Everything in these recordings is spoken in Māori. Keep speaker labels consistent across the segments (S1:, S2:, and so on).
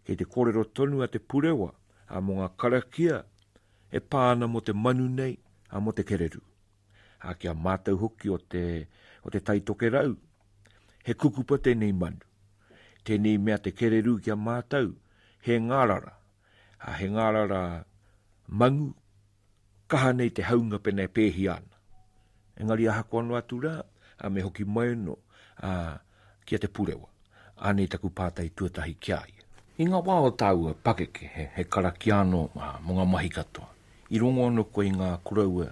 S1: Kei te kōrero tonu a Te Purewa mō ngā karakia e pā ana mō te manu nei, mō te kererū. Ki a mātou hoki o te o Te Tai Tokerau, he kukupa tēnei manu. Tēnei mea te kererū ki a mātou, he ngārara, he ngārara manu, Kaha nei te haunga pena e pēhia ana. Engari ahakoa noa atu rā, a me hoki mai anō, a, ki a Te Purewa. Anei taku pātai tuatahi ki a ia. I ngā wā o tāua pakeke he, he karakia anō, a, mō ngā mahi katoa, i rongo anō koe i ngā koroua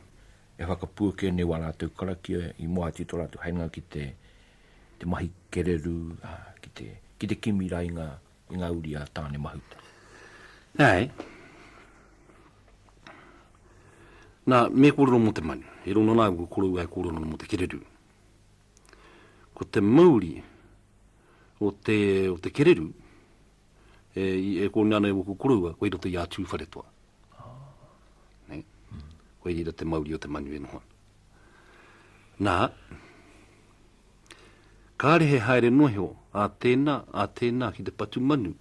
S1: e whakapuake nei wā rātou karakia i moe atu i tō rātou hainga ki te, te mahi kererū, a, ki te, ki te kimi rā i ngā. i ngā uri a Tāne Mahuta. Nāe.
S2: Nā, me kōrero mō te manu. E rua nōna au ko korou ai kōrero mō te kererū. Ko te mauri o te, o te kererū, e, e kōne ana e wōku koroua, koe roto i a Tūwharetoa. Ah. Nei. Mm. Koe rira te mauri o te manu e noho ana. Nā, kāre he haere noa iho a tēnā, a tēnā ki te patu manu,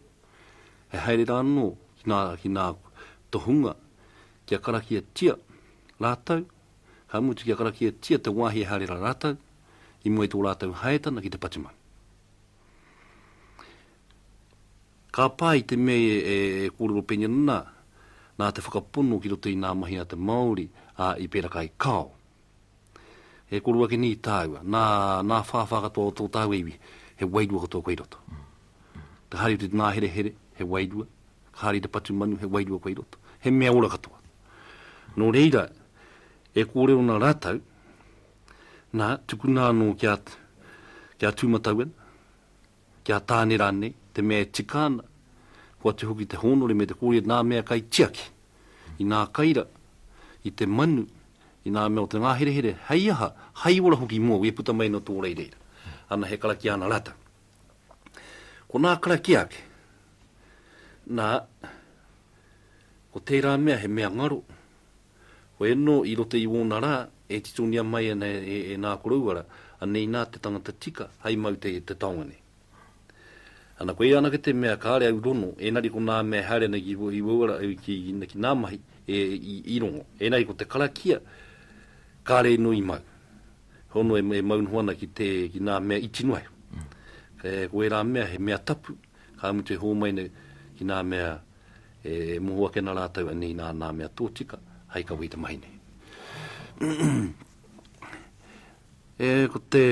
S2: he haere rā anō ki ngā, ki ngā tohunga kia karakiatia rātou, ka mutu kia karakiatia te wāhi e haere rā rātou i mua i tō rātou haetana ki te patu manu. Ka pā i te mea e kōrero pengen ana nā te whakapono ki roto i nā mahi a te Māori, ā, i pēraka ai Kao. E kōrero ake nei tāua, nā, nā whāwhā katoa o tō tāua iwi, he wairua katoa koi roto. Ka haere te nāherehere, he wairua, ka haere te patu manu, he wairua koi roto. He mea ora katoa. Nō reira, e kōrero ana rātou, nā, tukuna anō kia, kia tū matau ana, Kia tāne rānei, te mea e tika ana, kua atu hoki te hōnore me te kōrero nā mea kai tiaki, inā kai ra, i te manu, inā mea o te ngāherehere, hei aha, hai ora hoki mōu e puta mai no tō rei reira. Ana he karakia ana rātau. Ko nā karakia ake, nā, ko tērā mea he mea ngaro, Koia no i rota i wona ra, e titongia mai ana e na koroua ra, anei na te tangata tika hai mau te te taonga nei. Ana koia anake te mea kare au rono, enari ko na mea e haere ana ki i wou ra ki na mahi e i rongo, enari ko te karakia kare ino i mau. Hono e mau noho ana ki te ki na mea iti noa iho. Ko era mea he mea tapu, ka mutu e homai nei ki na mea E moho ake ana rātou e nīnā nā mea tōtika hai kawe i te mahi nei. e, ko te,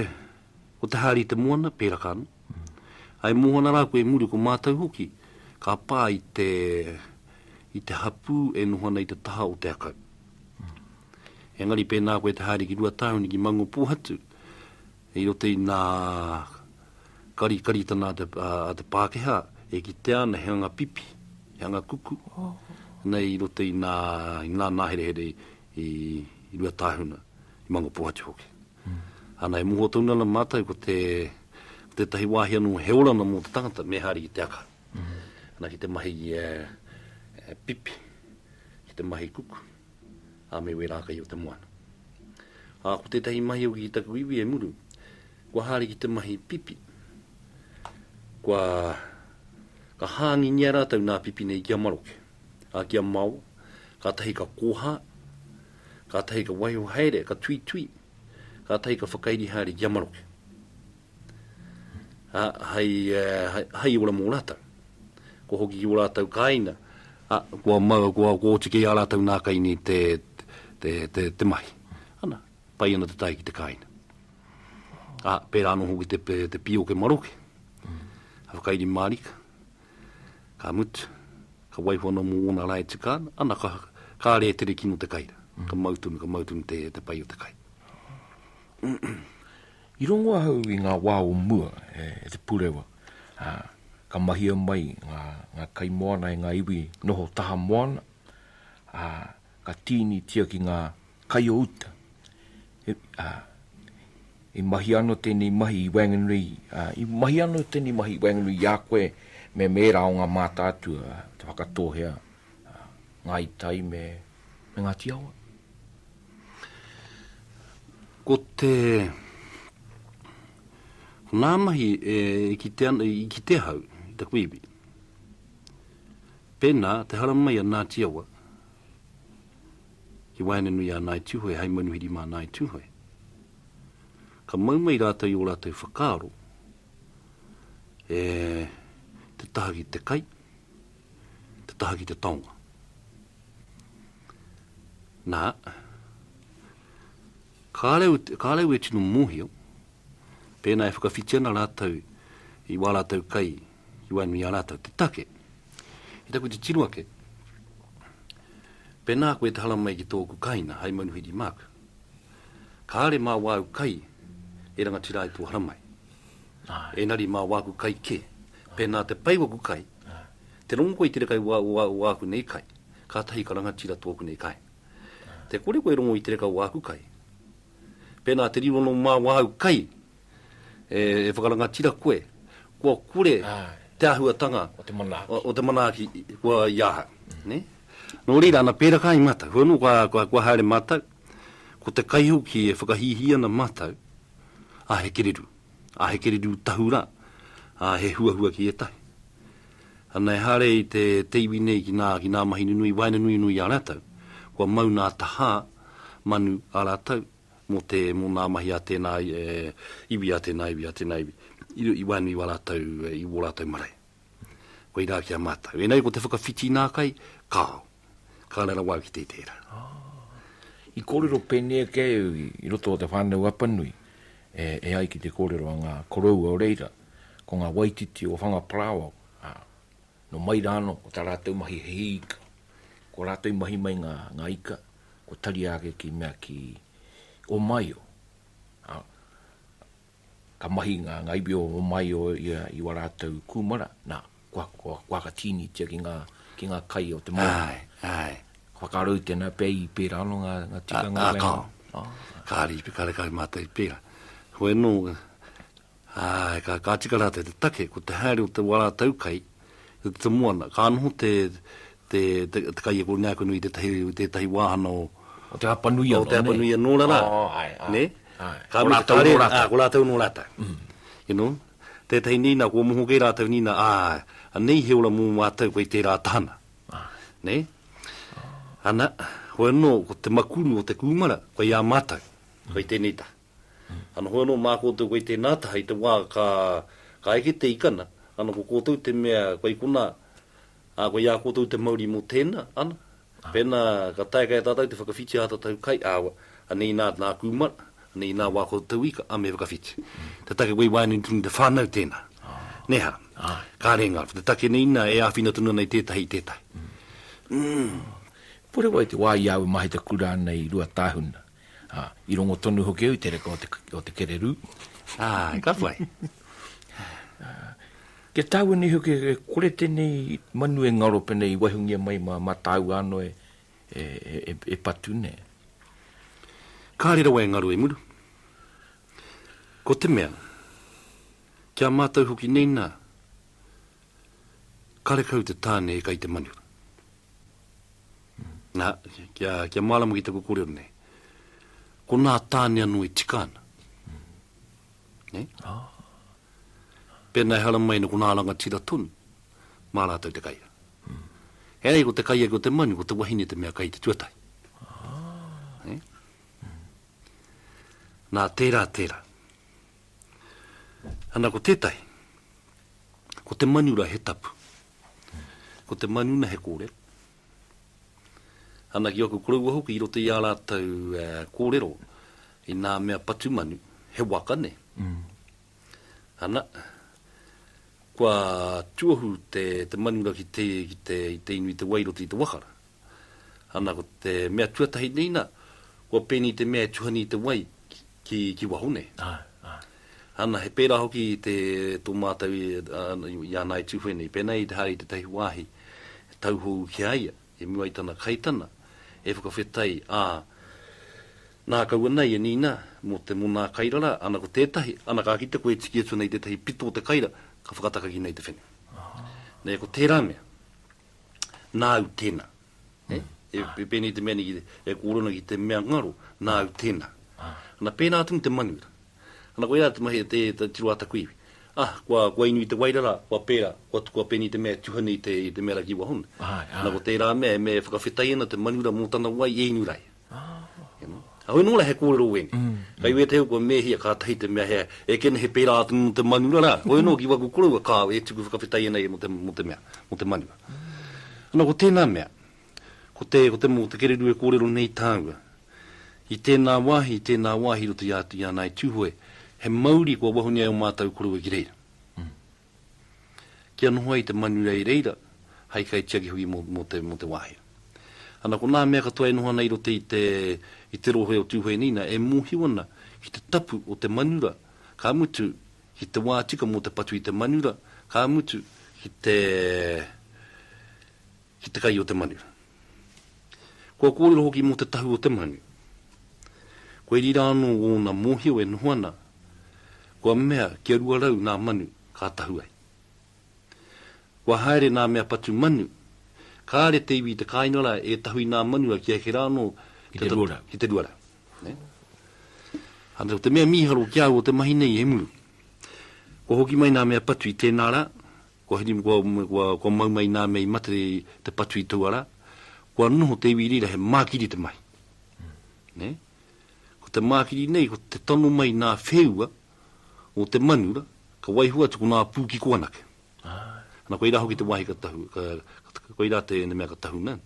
S2: ko te hari te moana, pēraka ana. Ai moho ana rāku e muri, ko mātou hoki, ka pā i te, i te hapū e noho ana i te taha o te akau. Engari pēnā koe te hari ki Ruatāhuni, ki Maungopōhatu, I roto i nā karikaritana a te Pākehā, e kitea ana he anga pipi, he anga kuku, nei i roto i nā, i nā nāherehere i Ruatāhuna, i Mangopōhatu hoki. Ana e moho tonu ana mātou ko te, ko tētahi wāhi anō he oranga mō te tangata me haere ki te aka. Ana ki te mahi pipi, ki te mahi kuku. a me wera kai o te moana. A ko tetahi mahi hoki ki taku iwi e muru, kua haere ki te mahi pipi. Kua ka hangingia ratou na pipi nei ki a maroke, a ki a mao, ka tahi ka koha, ka tahi ka waiho haere, ka tuitui, ka tahi ka whakairi haere ki a maroke. ā, hei, hei, hei ora mō rātou. Kua hoki ki ō rātou kāinga, ā, kua mau, kua, kua oti kē ā rātou nā kai nei te, te, te, te mahi. Ana, pai ana te tae ki te kāinga. Ā, pērā anō hoki te, te pīoke maroke, a whakairi mārika, ka mutu, ka waiho anō mō ōna rā e tika ana, ana, ka, ka rē tere kino te kai rā. Ka mau tonu, ka mau tonu te, te pai o te kai.
S1: I rongo ahau i ngā wā o mua e Te Purewa, ā, ka mahia mai ngā, ngā kaimoana e ngā iwi noho taha moana, ā, ka tīnitia ki ngā kai o uta, he, ā, i mahia anō tēnei mahi i waenganui, ā, i mahia anō tēnei mahi i waenganui i a koe me mēra o ngā mātātua, te Whakatōhea, ā, Ngāi Tai me, me Ngāti Awa.
S2: Ko te, ko ngā mahi e kite ana, i kite ahau, i taku iwi. Pēnā, te haramai a Ngāti Awa, ki waenganui a Ngāi Tūhoe, hai manuhiri mā Ngāi Tūhoe. Ka mau mai rātou i o rātou whakaaro, e te taha ki te kai, te taha ki te taonga. Na, kareu, kareu e tino mohio, pena e whakawhiti ana ratou i wa ratou kai ki wa nui a ratou te take. I taku titiro ake, pena koe te haramai ki toku kaina hai manuhiri Mark, kare ma wau kai e rangatira ai to haramai. Enari ma waku kai ke, pena te pai waku kai, te rongo koe i te reka i wa, wa, waku nei kai. Kātahi ka rangatira tōku nei kai. Te kore koe e rongo i te reka o āku kai. Pēnā te riro nō māu āu kai e, e whakarangatira koe, kua kore te āhuatanga o te manaaki, o, o te manaaki kua i ahau. Mm. Ne? Nō reira, ana pērā kai mātou. Hoi anō, kua, kua, kua haere mātou, ko te kai hoki e whakahīhī ana mātou, a he kereru, a he kereru tahu rā, a he huahua ki ētahi. Ana e haere i te, te iwi nei ki nā, ki nā mahi nunui, waina nui nui i a ratou. Kua mau nā tahā, manu, a ratou, mo te, mo nā mahi a tēnā e, iwi, a tēnā iwi, a tēnā iwi, i, i waenui i a ratou, i wō ratou marae. Koirā ki a matou. Enei ko te whakawhiti nā kai, kāo. ka rera wau ki te tera.
S1: I korero pene ake au i roto o te whanau Apanui, e, e ai ki te korero a nga koroua o reira, ko nga waititi o Whangaparāoa, a, no mai ra ano ko ta ratou mahi he hi ika. Ko ratou i mahi mai nga, nga ika, ko taria ake ki mea ki Omaio, a, Ka mahi ngā ngaiwi o Omaio i ua rātou kūmara, nā, kua, kua, kua aka tīnitia ki ngā, ki ngā kai o te Māori. Āe, āe. Ka
S2: whakaaro i tēnā
S1: pea i pērā anō ngā, ngā tikanga whenua. Ā, ā, kao.
S2: Kāre i, kāre kai mātou i pērā. Hoi anō, āe, ka, ka tika rātou te take, ko te haere o te ua rātou kai, te te moana. Ka noho te, te, te, te kaiako i ngā kunu i tētahi, tētahi wāhana o. O Te Hapanui
S1: anō, nē? O Te Hapanui anō rarā. Oh,
S2: āe, āe. Nē? Āe. Ko rātou anō rātou. Āe, ko rātou anō rātou. Mm. You know? Tētahi nei, nā, kua moho kē rātou nei, nā, āe, anei he ora mō mātou kei tērā tahana. Āe. Nē? Oh. Ana, hoi anō, ko te makuru o te kūmara, kei ā mātou. Mm. Kei tēnei taha. Ana hoi anō mā koutou kei tēnā taha i te wā ka, ka eke te ikana, ana ko koutou te mea kei konā, ā, kei a koutou te mauri mō tēnā, ana. Pēnā ka taea kei a tātou te whakawhiti ā tātou kai, ā, anei nā, nā kūmara, anei nā wā koutou ika, ā, me whakawhiti. Te take kei waenga i tonu i te whānau tēnā. Nē hā? Kāre ngā, ko te take nei inā e āwhina tonu ana i tētahi, i tētahi. Umm.
S1: Purewa i te wā i au e mahi te kura nei i Ruatāhuna. Ā, i rongo tonu hoki au i te reka o te, o te kererū. Āe, ka
S2: pai.
S1: Ā, kia tāua nei hoki e kore tēnei manu e ngaro pēnei i waihongia mai mā, mā tāua anō e, e, e, e patu nē.
S2: Kāre rawa e ngaro e muru. Ko te mea, ki a mātou hoki nei nā, karekau te tāne e kai te manu. Nā, kia, kia mārama ki taku kōrero nei. Ko nā tāne anō e tika ana. Ne? Ah. Pēnā e hara mai ko nā rangatira tonu, mā rātou te kaia. Mm. E ai, ko te kaia ko te manu, ko te wahine te mea kai te tuatai. Ah. Ne? Mm. Nā, tērā, tērā. Ana ko tētahi, ko te manu ra he tapu, ko te manu na he kōrero. Ana ki aku koroua hoki i roto i a rātou kōrero i nā mea patu manu, he waka nei. Mm. Ana, kua tuohu te, te manu ra ki te, ki te, te inu i te wai roto i te wakara. Ana ko te mea tuatahi nei na, kua pēnei te mea e tuhani i te wai ki, ki waho nei. Aye, aye. Ana, he pērā hoki i te, tō mātou i, uh, i ana i Tūwhene, i pēnei i te hari i tētahi wāhi, e tauhou ki a ia, i mua i tana kaitana, e whakawhetai, ā, nā kaua nei e nīnā, mō te monā kairara, ana ko tētahi, ana ka kite koe e tiki atu ana i tētahi pito o te kaira, ka whakatakaki nei te whene. Nei, ko tērā mea. nāu tēnā. E, e, e pēnei te mea ki, e kōrona ki te mea ngaro, nāu tēnā. Ah. Ana pēnā atu te manuira. Ana koe rā te mahi te, te tiro ata kui. Ah, kua, kua inu i te wairara, kua pēra, kua tukua pēnei te mea tuhane i te, i te mea raki wahona. Ah, ah. Ana ko tērā mea, e mea e whakawhetai ana te manuira mō tana wai e inu raia. Ahau nō la he kōrero wēne. Kai wē tēu kua mēhia kātahi te mea he ekene he pērā atu mō te manura rā. Hoi anō ki waku koroua kāo e tuku whakawhetai ana ia mō te mea, mō te manura. Ana ko tēnā mea, ko te, ko te mō te kererū e kōrero nei tāua. I tēnā wāhi, i tēnā wāhi roto i a, i a Ngāi Tūhoe, he mauri kua wahuni ai o mātau koroua ki reira. Kia noho ai te manu rei reira hai kaitiaki hoki mo te mo te wahi. Ana ko na mea katoa e noho ana i roto i te i te rohe o Tuhoeniina e mohiu ana ki te tapu o te manura ka mutu ki te wa tika mo te patu i te manura ka mutu ki te ki te kai o te manu. Kua kōrero hoki mō te tahu o te manu. Kua iri rā anō ōna mōhio e noho ana, kua mea kia rua rau nā manu ka tahu ai. Kua haere nā mea patu manu, kāre te iwi i te kāinga rā e tahu i nā manu a ki eke rā anō te tatu ki
S1: te rua rau.
S2: Ānei ko te mea mīharo ki a au o te mahi nei he muru. Kua hoki mai nā mea patu i tēnā rā, Kua whiti me kua, me kua, kua mau mai nā mea i mate te, te patu i taua rā. Kua noho te iwi rira, he mākiri te mahi. Nē? Ko te mākiri nei, ko te tono mai nā wheua o te manu ra, ka waiho atu ko nā pū kiko anake. Ana koirā hoki te wāhi ka tahu, ka, ka, koirā te, te mea ka tahuna.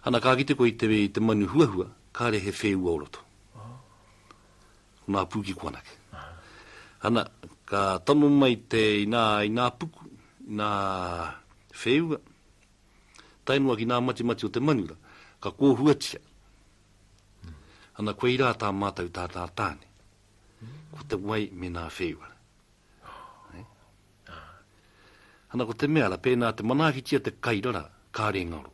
S2: Ana ka kite koe i te, i te manu huahua, kāre he wheua o roto. Nā Pukiko anake. Ana, ka tono mai te inā, inā puku, inā whēua, tae noa ki nā matimati o te manura, ka kōhuatia. Ana, koirā tā mātou tātā tāne, ko te wai me nā whēua. Ana ko te mea ra, pēnā te manaakitia te kairara, kāre ngaro.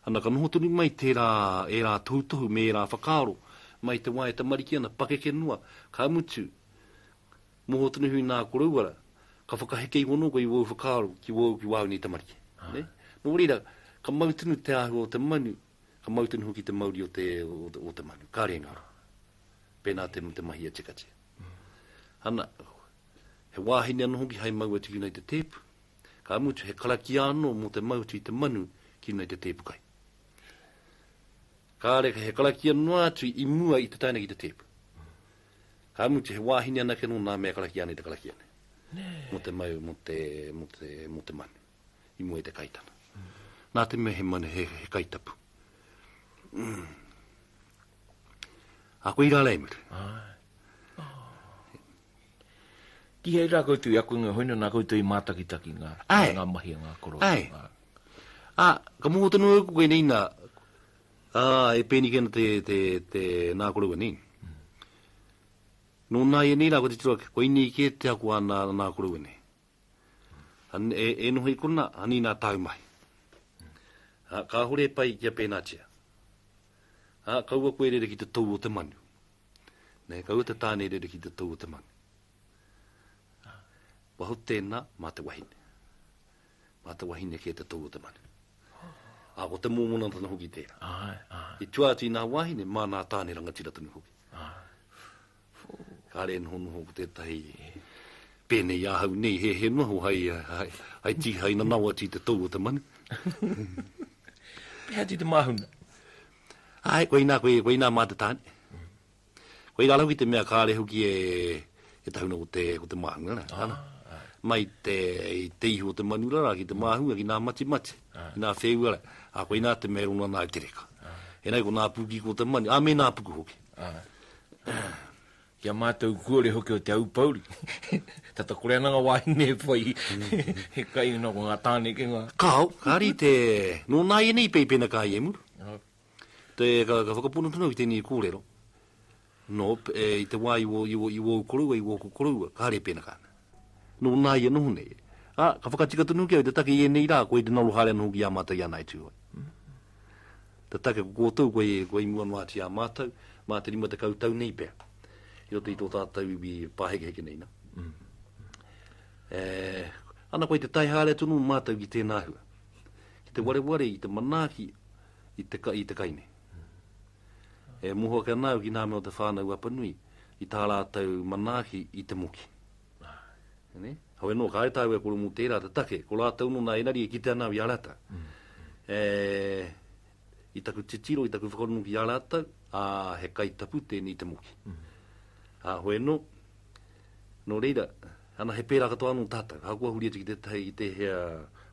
S2: Ana ka noho tonu mai tērā, ērā tohutohu me ērā whakaaro, mai te wā e tamariki ana, pakeke noa, ka mutu, noho tonu iho i nā koroua ra, ka whakaheke iho anō koe i wōu whakaaro ki wōu, ki wāu nei tamariki. Nō reira, ka mau tonu te āhua o te manu, Ka mau tonu hoki te mauri o te, o te manu. Kare nga roa. Pena te, te mahi a Chikatea. Ana, he wahine ano hoki hai mau atu ki nei te tepu. Ka mutu, he karakia ano mo te mau atu i te manu ki nei te tepu kai. Kare, he karakia noa atu i mua i te taina ki te tepu. Ka mutu, he wahine anake no na mea karakia nei te karakia nei. Mo te mau, mo te, mo te, mo te manu. i mua i te kaitana. Nā te mea he mana, he, he kaitapu. Mm. A koe i rālei muru. Oh.
S1: Ki hei rā koutou, i a koe ngā hoina, nā koutou i mātakitaki ngā, Ai. ngā mahi a ngā koro. Ai. Ngā. A,
S2: ka mō tonu au koe nei nā, a, e pēni kena te, te, te nā koroua nei. Mm. Nō nā ia nei rā, ko te tira, ko inei kē te ako a nā, nā koroua nei. E noho i konā, anīnā tāu mahi. Ā, kāhore e pai kia pēnātia. Ā, kaua koe e rere ki te tou o te manu. Nē, kaua te tāne e rere ki te tou o te manu. Ā, kua hau tēnā mā te wahine. Mā te wahine kē te tou o te manu. Ā, ko te mōmonatanga hoki tērā. I tua atu i nā wāhine, mā nā tāne rangatira tonu hoki. Kāre e nohonoho ko tētahi pēnei i ahau nei, he, he noho hai, hai, hai, tī, hai nanawa tī te tau o te manu. Pēhea
S1: tī te māhuna? Ai,
S2: koe inā, koe, koe inā mā te tāne. Koe inā lau ki te mea kāre hoki e, e tahuna ko te, ko te māhunga, ne? Ah, ah. Mai te, i te ihu o te manu rara ki te mm. māhunga, ki nā mati mati, ah. ki nā whēua rara. Ah, koe inā te mea rono anā te reka. Ah. E nei ko nā pūki ko te manu, ah, me nā puku hoki. Ki
S1: a mātou kuore hoki o Te Aupouri, tata kore ana nga wāhine e whai he kai ina ko nga tāne ke nga. Kao, ka rite,
S2: no nā ienei peipena ka ie muru. Te, ka, ka whakapono tonu ki tēnei kōrero, no, e, i te wā i wō, i wō, i wōu koroua, i wōku koroua, ka rēpēnaka ana. Nō nā ia noho nei. Ā, ka whakatika tonu hoki au i te take i ēnei rā koe i te ngaro haere anō hoki i a mātou i a Ngāi Tūhoe. Te take ko kōtou, koe, koe i mua noa atu i a mātou, mā te rima tekau tau nei pea, i roto i tō tātou iwi pāhekeheke nei nā. E, ana koe i te tae haere atu anō mō mātou ki tēnā hua, ki te wareware i te manaaki i te, i te kai nei. E moho ake ana au ki ngā mea o te whānau Apanui i tā rātou manaaki i te moki. Heoi anō, kāre tāu e koro mō tērā te take, ko rātou nō nā Enari e kitea ana au i a rātou. E, i taku titiro, i taku whakarongo ki a rātou, ā, he kaitapu tēnei i te moki. Ā, hoi anō, Nō reira, ana he pērā katoa anō tātou, ahakoa huri atu ki tētahi, ki tēhea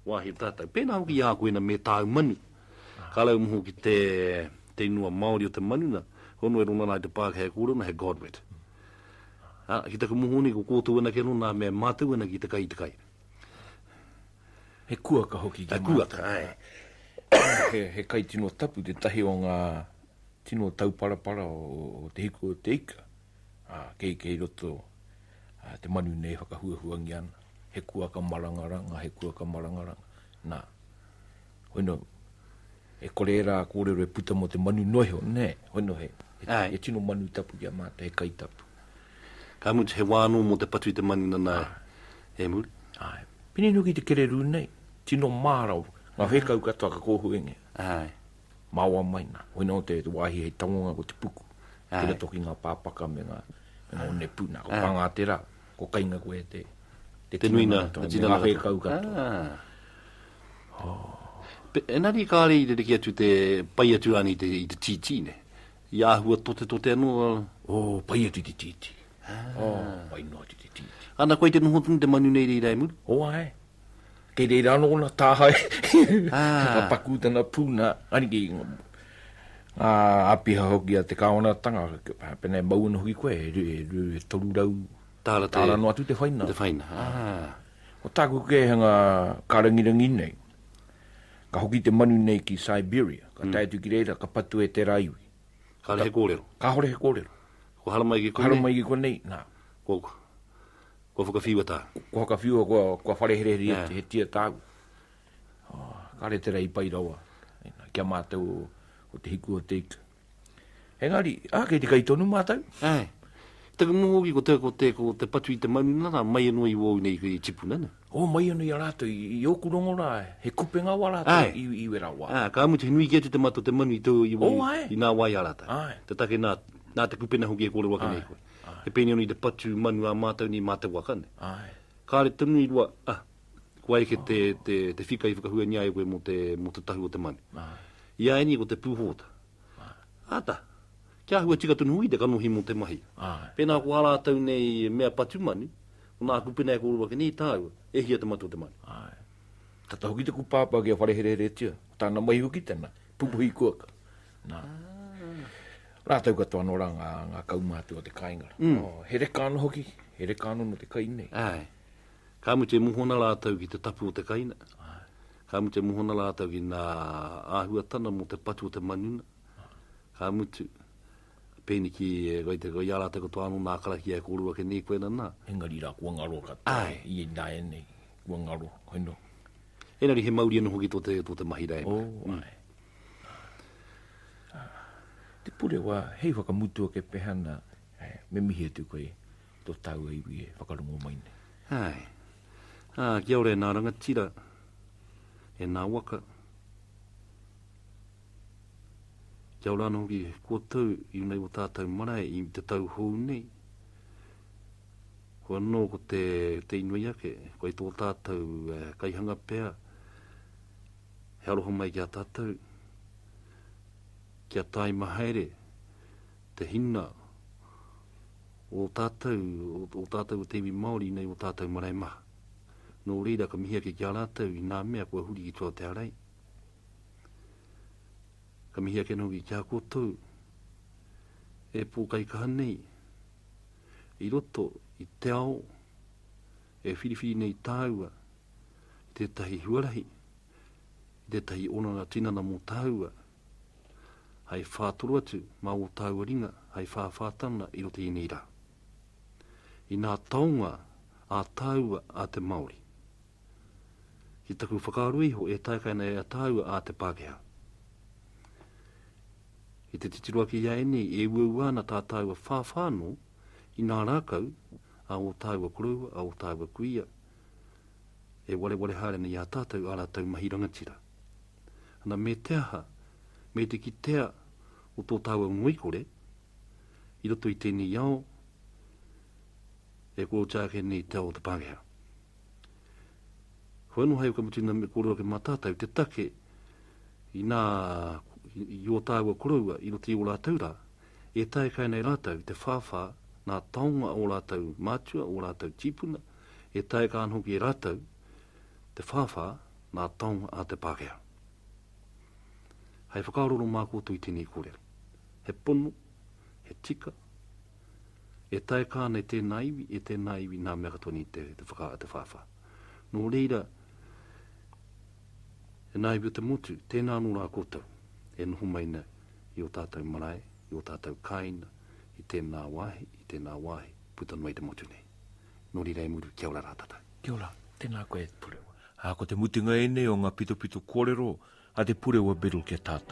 S2: wāhi o tātou. Pēnā hoki i a koe na me tāu manu, ka raumoho ki te, te inua Māori o te manu na, hono e rongona ai te Pākehā e kōrero ana hei God wet. Ā, ki taku moho nei, ko kōtou anake anō nā mea mātau ana ki te kai i te kai.
S1: He kuaka hoki ki mātau. He kuaka, āe.
S2: He,
S1: he kai tino tapu, tētahi o ngā tino tauparapara o, o te hiku o te ika. ā, kei, kei roto ā, te manu nei e whakahuahuangia ana, he kuaka marangaranga, he kuaka marangaranga, nā. Hoi nō, e kore ērā kōrero e puta mō te manu noa iho, nē, hoi nō he, he tino manu tapu ki a mātou, he kai tapu. Ka mutu,
S2: he wā anō mō te patu i te manu nanā e muri. Āe. Pēnei nō ki
S1: te kererū nei, tino mārau, ngā whēkau katoa ka kōhuengia. Āe. Maoa mai na. Hoina o te wahi hei tangonga ko te puku. Ki roto ki nga papaka me nga one pu. Na ko panga tera, ko kainga koe e te. Te tinana
S2: katoa. Me nga whekau
S1: katoa. Oh.
S2: Enari kare i rereki atu te pai atu rani te i te titi ne. I ahua tote tote ano. Oh, pai atu i te
S1: titi. Oh, pai no atu i te titi. Ana koe te noho tonu
S2: te manu nei reira e muru? Oh, ae.
S1: Kei reira anō ōna tāhae. Ka pakū tana pū nā, aniki, ngā āpiha hoki a te kāwanatanga, pēnā e mau ana hoki koe, e toru rau tāra noa atu te whaina. Te whaina, āā.
S2: Ko
S1: tāku kēhanga kārangirangi nei, ka hoki te manu nei ki Siberia, ka tae atu ki reira, ka patua e tērā iwi. Kāore he kōrero.
S2: Kāore he kōrero.
S1: Kua haramai ki konei. Kua
S2: haramai ki konei, nā.
S1: Kua.
S2: Kua whakawhiua tāu? Kua whakawhiua kua,
S1: kua whare hereheri he, he tia tāu. Oh, kāre te rei pai rawa ki a mātou o te hiku o te ika. Engari, ah, kei te kai tonu mātou. Ai. Taku
S2: noho hoki ko te, ko te, ko te patu i te marunga rā, mai anō i wōu nei i tipuna, ne? O, oh, mai anō i a rātou,
S1: i, i ōku rongo rā, he kupenga wā rātou i, i wera wā. Ah, ka mutu, he nui kē te te
S2: matu te manu i tō, i, oh, i, i nā wā i a rātou. Ai. Te take nā, nā te kupena hoki e kōrero ake nei koe. Te Penioni, te patu manu a mātou nei mā te waka nei. Kāre tonu i rua, ah, kua eke te, te, te whika i whakahuangia ai koe mō te, mō te tahu o te manu. I a ēnei ko te pūhōta. Āta, kia āhua tika tonu hoki te kanohi mō te mahi. Pēnā ko ā rātou nei mea patu manu, ko nāku pēnā e kōrero ake nei i tāua, e hia te matua te manu. Āe. Tata
S1: hoki te kupāpā kia wharehereheretia, ko tāna mahi hoki tēnā, Pupuhi kuaka. Nā. Rātou katoa anō rā ngā, ngā kaumātua o te kāinga. Mm. Oh, he reka anō hoki, he reka anō no te kai nei. Ai. Ka
S2: mutu e muhona rātou ki te tapu o te kaina. Ai. Ka mutu e muhona rātou ki nā āhuatana mō te patu o te manuna. Ai. Ka mutu, pēni ki, koi te koi ārātou katoa anō nā karakia e kōrua ke nei koe nana. Engari rā, kua ngaro
S1: katoa. Ai. I nā e nei. Kua ngaro, I know. Engari he
S2: mauri anō hoki tō te, tō te mahi rēnga. Oh, mm.
S1: ai. Te purewa, hei whakamutu ake pehana, eh, me mihi atu koe i tō tāua iwi e whakarongo mai nei. Hai. Ā, ah,
S2: kia ora e nā rangatira, e nā waka. Kia ora anō hoki koutou i unei o tātou marae i te tau hou nei. Ko anō ko te, te inoi ake, ko i tō tātou e, kaihanga pea, he aroha mai ki a tātou, kia tāima haere te hina o tātou, o, o tātou o te iwi Māori nei o tātou marae maha. Nō reira ka mihi ake ki a rātou i nā mea kua huri ki tua te arei. Ka mihi ake nō ki a koutou, e pōkaikaha nei, i roto i te ao e whiriwhiri nei tāua i tētahi huarahi, i tētahi oranga tinana mō tāua, hai whātoro atu mā ō tāua ringa, hai whāwhātanga i roto ēnei rā. I nā taonga ā tāua a te Māori. Ki taku whakaaro iho e taekaina e a tāua a te Pākehā. I te titiro ake i a ēnei e uaua ana tā tāua whāwhā anō i ngā rākau a ō tāua koroua, a ō tāua kuia, e wareware haere ana i a tātou ā rātou mahi rangatira. Ana, me te aha, me te kitea o tō tāua ngoikore, i roto i tēnei ao e kōrero ake nei te ao o te Pākehā. Whai noa hai o ka mutu ina me kōrero ke mātātau te take i nā, i o tāua koroua, i roto i o rātau rā, e tae kai nei rātau te whāwhā nā taonga o rātau mātua, o rātau tīpuna, e tae ka ana hoki e rātau te whāwhā nā taonga a te Pākehā. Hai whakaaroro mā koutou i tēnei kōrero. He pono, he tika, E taea ka ana e tēnā iwi, e tēnā iwi nā mea ka toni te, te whakaā, te whāwhā. Nō reira, e nā iwi o te motu, tēnā anō rā koutou e noho mai nei i ō tātou marae, i ō tātou kāina, i tēnā wāhi, i tēnā wāhi, puta noa i te motu nei. Nō reira e muru, kia ora rā tātou. Kia ora, tēnā
S1: koe Purewa. Ā, ko te mutunga ēnei o ngā pitopito kōrero a te Purewa Biddle ki a tātou.